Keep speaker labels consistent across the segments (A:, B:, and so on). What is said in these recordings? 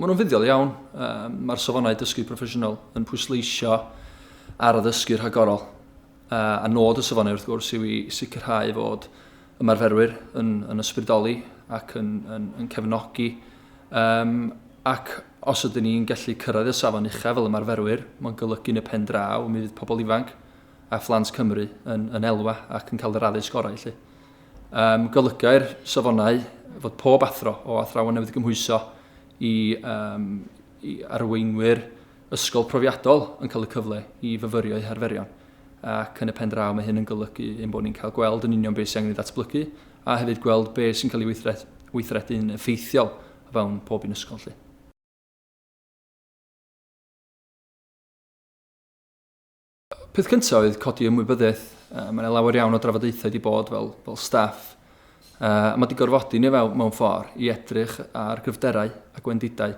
A: Mae nhw'n fuddiol iawn. Um, Mae'r safonau dysgu proffesiynol yn pwysleisio ar addysgu rhagorol. Uh, a nod y safonau wrth gwrs yw i sicrhau fod ymarferwyr yn, yn ysbrydoli ac yn, yn, yn cefnogi um, ac Os ydyn ni'n gallu cyrraedd y safon uchaf fel ymarferwyr, mae'n golygu yn y pen draw, mi fydd pobl ifanc a phlant Cymru yn, yn elwa ac yn cael yr addysg orau, felly. Um, golygai'r safonau fod pob athro o athrawon newydd gymhwyso i, um, i arweinwyr ysgol profiadol yn cael y cyfle i fyfyrio eu harferion ac yn y pen draw mae hyn yn golygu ein bod ni'n cael gweld yn union beth sy'n angen ei ddatblygu a hefyd gweld beth sy'n cael ei weithredu'n effeithiol o fewn pob un ysgol 'lly. Peth cyntaf oedd codi ymwybyddiaeth. Uh, mae yna lawer iawn o drafodaethau wedi bod fel, fel staff. Uh, mae wedi gorfodi ni fel, mewn ffordd i edrych ar gryfderau a gwendidau.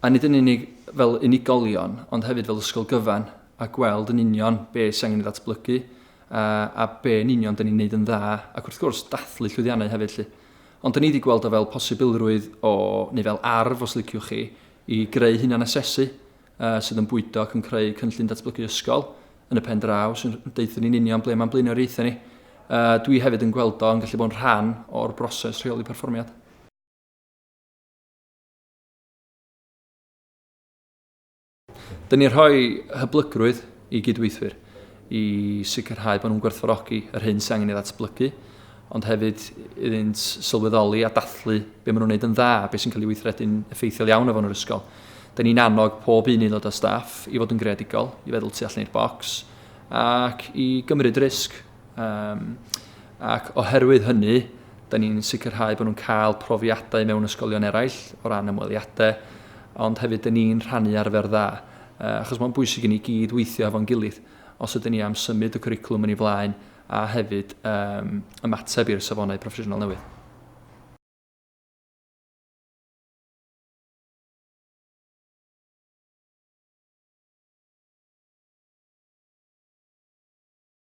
A: A nid yn unig fel unigolion, ond hefyd fel ysgol gyfan, a gweld yn union be sy'n angen ei ddatblygu, uh, a be yn union dyn ni'n neud yn dda, ac wrth gwrs dathlu llwyddiannau hefyd. Lly. Ond 'da ni 'di gweld o fel posibilrwydd o, neu fel arf os liciwch chi, i greu hunanasesu yy sydd yn bwydo ac yn creu cynllun datblygu ysgol yn y pen draw sy'n deutha ni'n union ble mae'n blaenoriaethau ni. Yy dwi hefyd yn gweld o yn gallu bod yn rhan o'r broses rheoli perfformiad. Dyn ni'n rhoi hyblygrwydd i gydweithwyr i sicrhau bod nhw'n gwerthfawrogi yr hyn sy'n angen ei ddatblygu, ond hefyd iddynt sylweddoli a dathlu beth maen nhw'n gwneud yn dda, beth sy'n cael ei weithredu'n effeithiol iawn efo nhw'r ysgol. Dyn ni'n annog pob un aelod o staff i fod yn greadigol, i feddwl tu allan i'r bocs, ac i gymryd risg. Um, ac oherwydd hynny, da ni'n sicrhau bod nhw'n cael profiadau mewn ysgolion eraill o ran ymweliadau, ond hefyd da ni'n rhannu arfer dda, uh, achos mae'n bwysig i ni gyd weithio efo'n gilydd os ydyn ni am symud y cwricwlwm yn ei flaen a hefyd um, ymateb i'r safonau proffesiynol newydd.